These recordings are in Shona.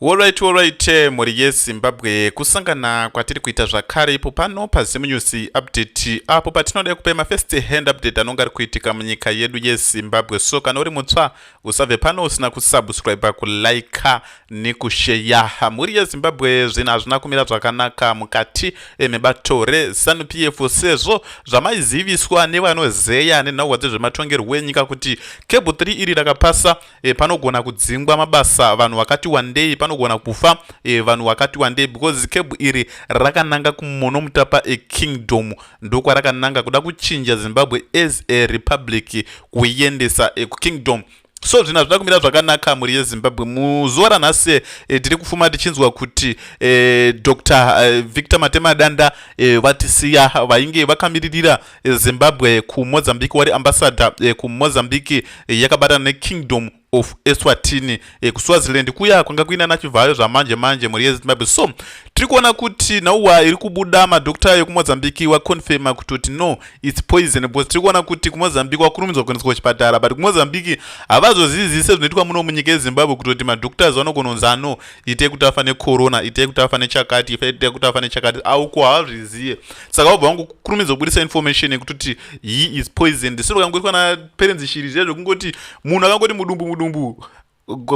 Horaiti horaiti mhuri yeZimbabwe kusangana kwatiri kuita zvakare ipo pano paZim News Update apo patinoda kupa mafirst hand update anonga ari kuitika munyika yedu yeZimbabwe so kana uri mutsva usabve pano usina kusubscribe kulike nekusheya mhuri yeZimbabwe zvinhu hazvina kumira zvakanaka mukati eh, mebato reZanu PF sezvo zvamaiziviswa nevanozeya nenhauwa dzezvematongerwo enyika kuti cable 3 iri rakapasa e, panogona kudzingwa mabasa vanhu vakati wandei panogona kufa e, vanhu vakati wandei because kebhu iri rakananga kumono mutapa ekingdom ndokwarakananga kuda kuchinja zimbabwe as a republic kuiendesa e, kukingdom so zvinhu hazvina kumira zvakanaka mhuri yezimbabwe muzuva ranhasi e, tiri kufuma tichinzwa kuti e, dr e, victor matemadanda e, vatisiya vainge vakamiririra Zimbabwe kuMozambique wari ambassador eh, kuMozambique eh, yakabatana neKingdom of Eswatini eh, kuSwaziland kuya kwanga kuina nachivhayo zvamanje manje mhuri yeZimbabwe so tiri kuona kuti nauwa iri kubuda madokta yekuMozambique waconfirma kutoti no its poison because tiri kuona kuti kuMozambique wakurumidzwa kuendeswa kuchipatara but kuMozambique havazozizi sezvinoitwa muno munyika yeZimbabwe kutoti madoktas vanogononzi ano itei kuti afa necorona itei kuti afa nechakati itei kuti afa nechakati auko havazviziye saka vabva vangu kurumidza kubudisa information yekuti he is poisoned sero kangoitwa naparents shiri zviya zvekungoti munhu akangoti mudumbu mudumbu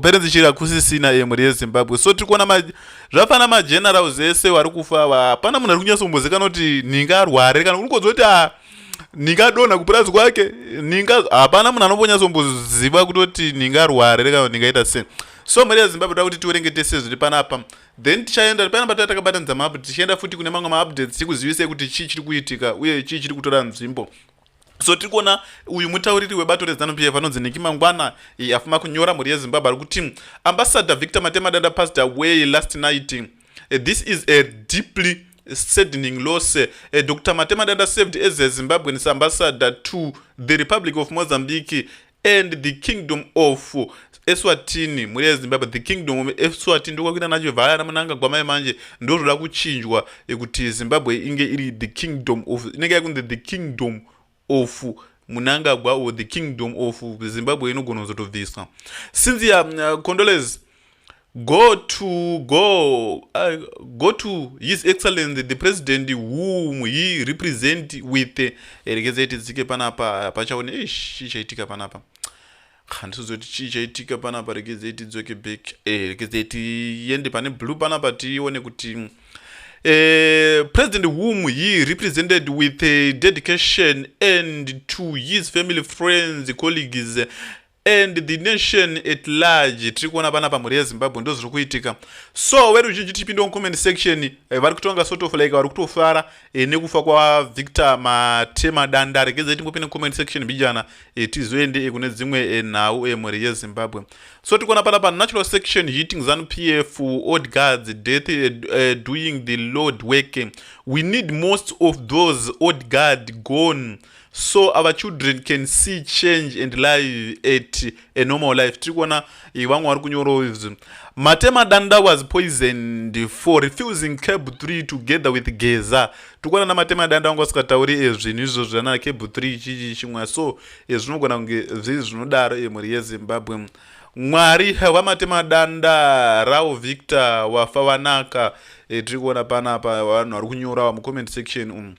parents shiri hakusisina emuri yezimbabwe so tiri kuona zvafana magenerals ese wari kufa ava hapana munhu ari kunyatsombozikana kuti ninga arware kana unokodza kuti a ninga adonha kupurazi kwake ninga hapana munhu anombonyatsombozivwa kutoti ninga arware kana ningaita sei so mari yezimbabwe toda kuti tiwerenge tese zviri panapa then tichaenda payana pataya takabatanidza maupdate tichienda futi kune mamwe maupdates tikuzivisei kuti chii chiri kuitika uye chii chiri kutora nzvimbo so tiri kuona uyu mutauriri webato rezanu pf anonzi niki mangwana afuma kunyora mhuri yezimbabwe ari kuti ambassador victor matemadanda passed away last night eh, this is a deeply saddening loss eh, dr matemadanda saved as a zimbabweans ambassador to the republic of mozambique and the kingdom of eswatini mhuri yezimbabwe the kingdom of eswatini ndokwakuita nacho vhaya ana munangagwa mai manje ndozvoda kuchinjwa yekuti zimbabwe inge iri the kingdom of inenge yakunzi the kingdom of munangagwa or the kingdom of zimbabwe inogona kuzotobviswa since ya uh, condoles Go to go uh, go to his excellency the president whom he represent with erekeza iti dzike panapa pachaone ish ichaitika panapa handisizoti chii chaitika panapa rekeza iti dzoke back eh, rekeza iti yende pane blue panapa tione kuti mm, Uh, President whom he represented with uh, dedication and to his family, friends, colleagues, and the nation at large tiri kuona pana pamhuri yezimbabwe ndo zviri kuitika so veruzhinji tipinde mucomment section eh, vari kutonga sort of like vari kutofara eh, nekufa kwavictor matema danda regedzai timbopinde mucomment section mbijana eh, tizoende eh, kune dzimwe eh, nhau eh, mhuri yezimbabwe so tikuona pana panatural section hitting zanupf f old guards death eh, eh, doing the lord work we need most of those old guard gone so our children can see change and live at a normal life tiri kuona eh, vamwe vari kunyorawo izvi matema danda was poisoned for refusing cab 3 together with geza tiri kuona namatema danda vanga vasikatauri ezvinhu eh, izvo zvana cab 3 chichi chimwa so eh, zvinogona kunge zvii zvinodaro emhuri yezimbabwe mwari havamatema danda rao victor wafa vanaka tiri kuona panapa vanhu vari kunyorawa mucomment section umu um.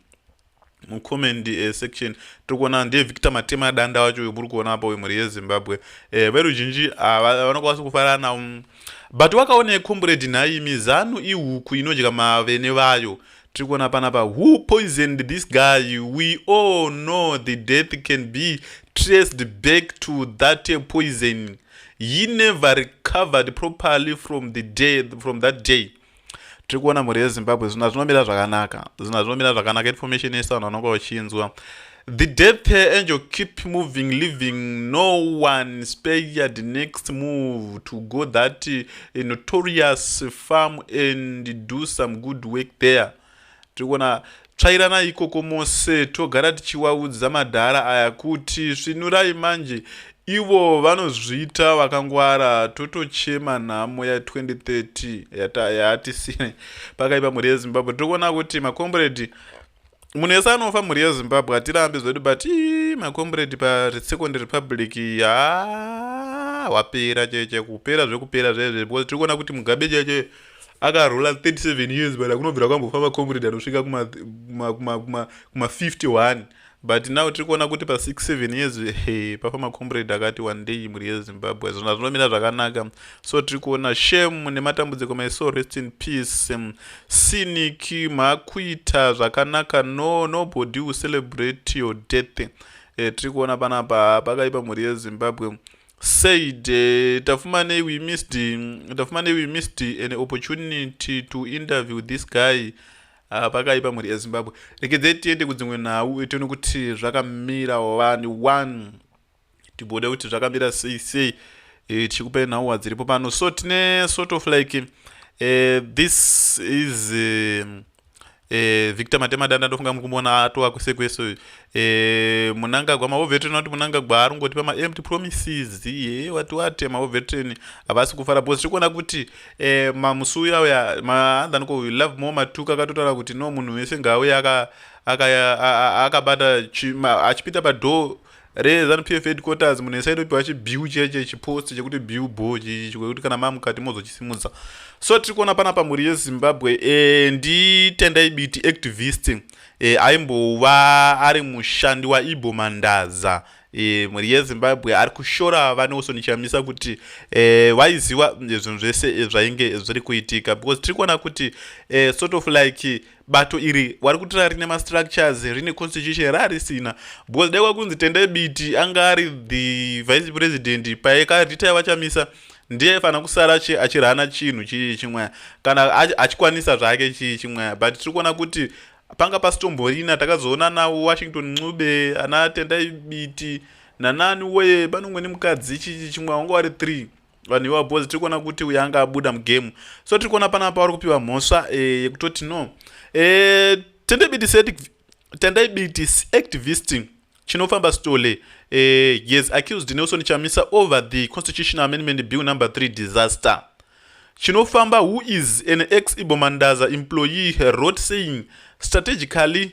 mucomment eh, section tiri kuona ndiye victor matema danda wacho uyo muri kuona apa uyo mhuri yezimbabwe eh, veruzhinji ah, vanokwanisa kufarana um, but wakaone combrade nhai mizanu ihuku inodya mavene vayo tiri kuona panapa who poisoned this guy we all know the death can be traced back to that eh, poison he never recovered properly from the day from that day tiri kuona mhuri yezimbabwe zvinhu hazvinomira zvakanaka zvinhu hazvinomira zvakanaka information yese vanhu vanonga vachinzwa the death angel keep moving living no one spared next move to go that eh, notorious farm and do some good work there Tirikuona tsvairana ikoko mose togara tichiwaudza madhara aya kuti svinurai manje ivo vanozviita vakangwara totochema nhamo ya 2030 yaatisine pakaipa mhuri yezimbabwe tirikuona kuti makomburedi munhu yese anofa mhuri yezimbabwe hatirambi zvedu but ii makomburedi paresecond republic yaa wapera cheche kupera zvekupera zvezve because tirikuona kuti mugabe cheche akarola 37 years but akunobvira kwambofamba comrade anosvika kuma51 but now tiri kuona kuti pa67 years he pafamba comrade akati one day mhuri yezimbabwe zvona zvinomira zvakanaka so tiri kuona shame nematambudziko my soul rest in peace sinic makuita zvakanaka no nobody will celebrate your death e, tiri kuona panapa pakaipa mhuri yezimbabwe said uh, Tafumane, we missed mm, Tafumane, we missed an opportunity to interview this guy uh, pakaipa mhuri yezimbabwe rekedzei tiende kudzimwe nhau tione kuti zvakamira one one timbode kuti zvakamira sei sei e, tichikupai nhau dziripo pano so tine sort of like uh, this is uh, eh, victor matemadanda ndofunga muri kumboona atova kwese kwese eh, munangagwa maovetren vati munangagwa ari ngoti pamaempt promises ye wati wate maovetren havasi kufara bcause tiri kuona kuti eh, mamusi uya uya maandaniko love more matuka akatotaura kuti no munhu wese ngaauye akabata achipinda padhoo reZanu PF headquarters munhu ese aitopiwa chibiu chiya chiya chipost chekuti biu bho chekuti kana mamukati mozochisimudza so tiri kuona panapa mhuri yezimbabwe e, nditendai biti activist e, aimbova ari mushandi waibo mandaza e, mhuri yezimbabwe ari kushora vanewson chamisa kuti e, vaiziva zvinhu zvese zvainge zviri kuitika because tiri kuona kuti e, sort of like bato iri wari kutora rine mastructures rine constitution raarisina because dai kwakunzi tendai biti anga ari the vice president paekarita yavachamisa ndiye aifanira kusara achirana chinhu chii chimweya kana achikwanisa zvake chii chimweya but tiri kuona kuti panga pasitomborina takazoona nawo washington ncube ana tendai biti nanani weye panongwe nemukadzi chii chimweya wanga wari three vanhu iwa bhozi tiri kuona kuti uyo anga abuda mugame so tiri kuona panapa vari kupiwa mhosva eh, yekutoti no eh, tendai bitis activist chinofamba stole eh, yes accused nelson chamisa over the constitutional amendment bill number 3 disaster chinofamba who is an ex ibomandaza employee wrote saying strategically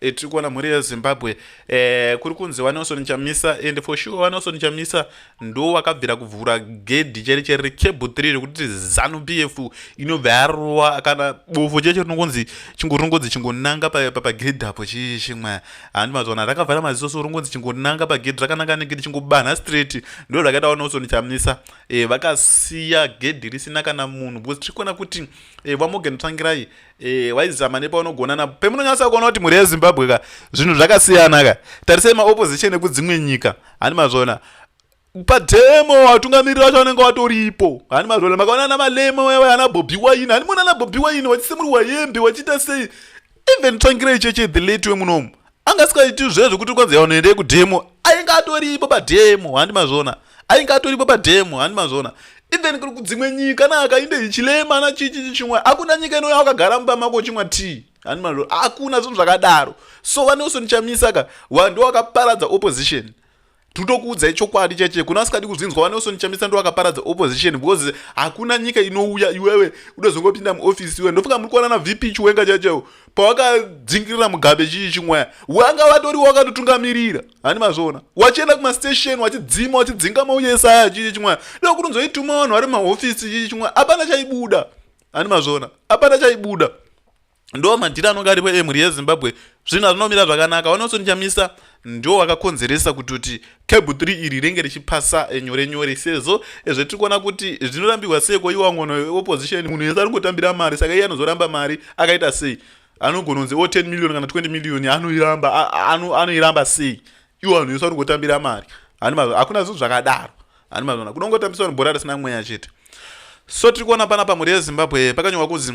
Eh, tiri kuona mhuri yezimbabwe eh, kuri kunzi wanelson chamisa and for sure wanelson chamisa ndo wakabvira kuvhura gedhi cheri cheri recable 3 rekuti zanu p f inobva yarova kana bofu cheche rinongonzi chingo rinongonzi chingonanga pagedhi apo chii chimwe handi mazivana rakavhara maziso so rinongonzi chingonanga pagedhi rakananga negedhi chingobanha straight ndo zvakaita wanelson chamisa eh, vakasiya gedhi risina kana munhu because tiri kuona kuti eh, vamorgan tsvangirai Eh, waizama nepaunogona napo pemunonyasa kuona kuti mhuri yezimbabwe ka zvinhu zvakasiyana ka tarisai maopposition ekudzimwe nyika hani mazvona pademo watungamiriri vacho vanenge watoripo hani mazvona makaona ana malemo ana bobi waini hani mona ana bobi waini wachise muri wayembe wachiita sei even tsvangirei cheche the late wemunomu anga asikaiti zve zvekuti kwanzi yaunoendei kudemo ainge atoripo pademo handi mazvona ainge atoripo pademo handi mazvona even kuri kudzimwe nyika naka inde ichilema na chichichi chimwe hakuna nyika inouya wakagara mumba mako uchimwa tii handi mazvona hakuna zvinhu zvakadaro so vaneusoni chamisa ka wandi wakaparadza opposition Tutokuudzai chokwadi chaiche kuna asikadi kuzvinzwa vaNelson Chamisa ndo vakaparadza opposition because hakuna nyika inouya iwewe udozongopinda muoffice iwe ndofunga muri kuonana VP Chiwenga chaichewo pawakadzingirira Mugabe chii chimwaya wanga vatori wakatotungamirira hani mazviona wachienda kumastation wachidzima wachidzinga mauya esaya chii chimwaya ndokutonzoituma vanhu vari mumahofisi chii chimwaya apana chaibuda hani mazviona apana chaibuda ndo madhiri anonge aripo emhuri yezimbabwe zvinhu hazvinomira zvakanaka wanoson chamisa ndo wakakonzeresa kuti kuti cab 3 iri renge richipasa eh, nyore nyore sezvo eh, zvetiri kuona kuti zvinorambirwa seiko iwa ngono yeopposition munhu yese anongotambira mari saka iye anozoramba mari akaita sei anogona kunzi o oh, 10 million kana 20 million anoiramba anoiramba sei iwo vanhu yese anongotambira mari hakuna zvinhu zvakadaro ani mazvona kunongotambiswa vanhu bhora risina mweya chete so tiri kuona pana pamhuri yezimbabwe pakanyorwa kunzi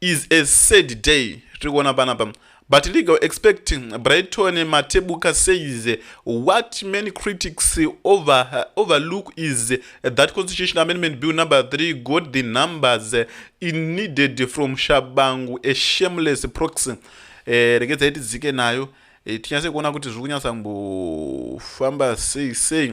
is a sad day tiri kuona panapa but legal expect brighton matebuka says what many critics over, overlook is that constitution amendment bill number 3 got the numbers in needed from shabangu a shameless proxy eh, regedzai tidzike nayo eh, tinyase kuona kuti zviri kunyatsa mbofamba sei sei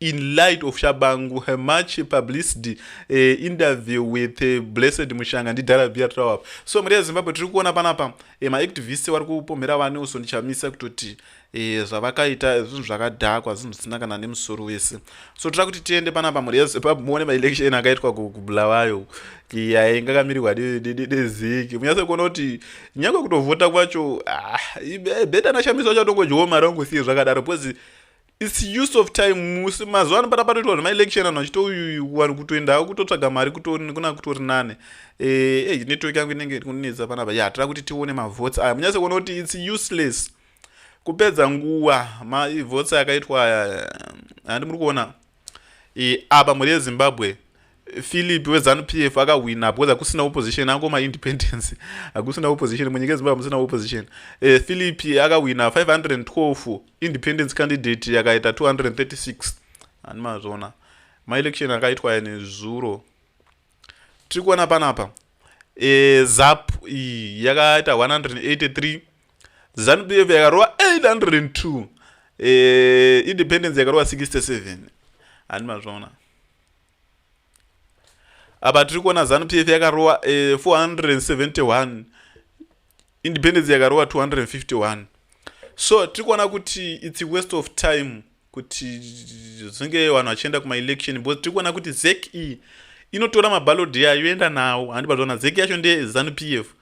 in light of shabangu her much publicity uh, interview with uh, blessed mushanga ndidhara bia trawap so mari yezimbabwe tiri kuona panapa uh, eh, maactivist wari kupomhera vane uso ndichamisa kutoti uh, zvavakaita zvinhu zvakadhakwa zvinhu zvisina kana nemusoro wese so tira kuti tiende panapa mari yezimbabwe muone maelection akaitwa kubulawayo yainga kamirirwa deziki munyase kuona kuti nyange kutovhota kwacho ah, beta nashamisa wacho atongodyiwo mari ongosiye zvakadaro because its use of time musi mazuva ano pata patoitwa zvema election anhu achitouyuyu vanhu kutoendawo kutotsvaga mari kuna kutori nane eh, eh network yangu inenge kunetsa panapa ya tira kuti tione mavotes aya munyase kuona kuti its useless kupedza nguva mavotes akaitwa aya handi muri kuona eh, apa mhuri yezimbabwe Philip weZanu PF akahwina because hakusina opposition ango maindependence hakusina opposition munyika yeZimbabwe hamusina opposition uh, Philip akahwina 512 independence candidate yakaita 236 ani mazvona maelection akaitwa ya nezuro tiri kuona panapa uh, eh, zap iyi yakaita 183 Zanu PF yakarova 802 uh, eh, independence yakarova 67 ani mazvona apa tiri kuona zanu pf yakarowa eh, 471 independence yakarowa 251 so tiri kuona kuti its a waste of time kuti zvinge vanhu vachienda kumaelection because tiri kuona kuti zek e inotora mabalodi ayo yoenda nawo handi bazoona zek yacho ndeye zanu pf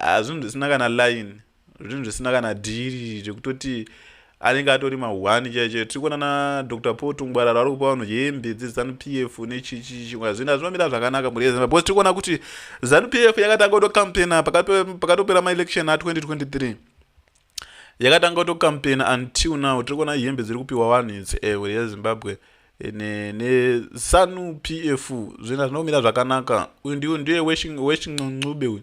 Haa zvinhu zvisina kana line zvinhu zvisina kana dhiri zvekutoti anenge atori mahwani chaiye chaiye tiri kuona nadr paul tungwarara ari kupa vanhu hembe dzezanup f nechichichikwa zvinhu hazvimamira zvakanaka mhuri yezimba because tiri kuona kuti zanup f yakatanga kutocampaigna pakatopera maelection a 2023 yakatanga kutocampaign until now tiri kuona hembe dziri kupiwa vanhu idzi ewe yezimbabwe nesanu p f zvina zvinomira zvakanaka uyu ndiu ndiye weshincuncube uyu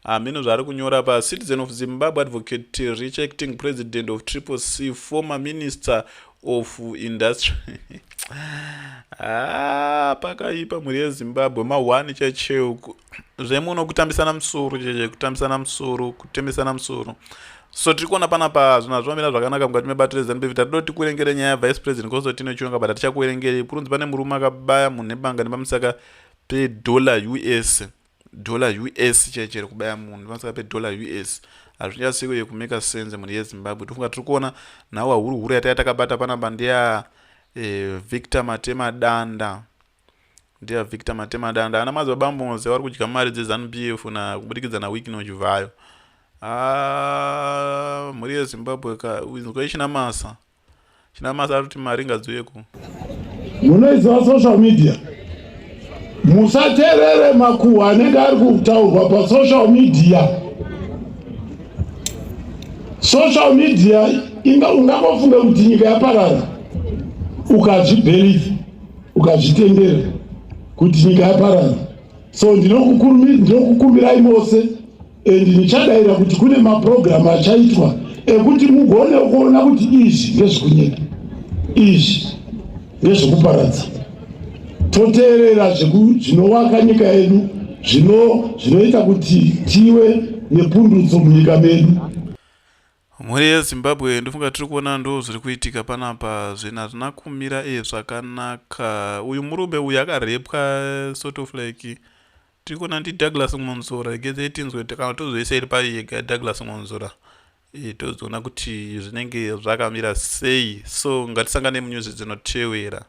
hameno zvaari kunyora pa citizen of zimbabwe advocate rejecting president of triple c former minister of industry ah, pakaipa mhuri yezimbabwe mahwani chacheuku zvemuno kutambisana musoro cheche kutambisana musoro kutembesana musoro so tiri kuona pana pa zvinhu hazvimamira zvakanaka mukati mebato rezanup if tatidoti kuerengere nyaya yavice president constantino chionga but hatichakuerengeri kurunzi pane murume akabaya munhu nebanga nepamusaka pedollar us dollar us chaiye chiri kubaya munhu pamusaka pedollar us hazvinyatsi kuye kumeka sense mhuri yezimbabwe tofunga tiri kuona nhawa huru huru yataiya takabata panapa ndeya eh, victor matema danda ndeya victor matema danda ana madzibaba moze vari kudya mari dzezanup f na kubudikidza nawikino chivhayo ah, mhuri yezimbabwe ka izwa ichinamasa chinamasa kuti mari ngadziuyeko munoiziva social media musaterere makuhwa anenge ari kutaurwa pasocial media social media inga ungangofunga kuti nyika yaparara ukazvibheliva ukazvitendera kuti nyika yaparara so ndinokukumbirai mose and ndichadaira kuti kune maprogramu achaitwa ekuti mugone kuona kuti izvi ngezvekunyika izvi ngezvekuparadza toteerera zvinowaka nyika yedu zvinoita kuti tive nepundutso munyika medu mhuri yezimbabwe ndofunga tiri kuona ndo zviri kuitika panapa zvinhu hazvina kumira e zvakanaka uyu murume uyu akarepwa sort of like Tiri kuona ndi Douglas Mwonzora regezeyi tinzwe kana tozoisa iri paye yega Douglas Mwonzora e, tozoona kuti zvinenge zvakamira sei so ngatisangane munyuzi dzinotevera.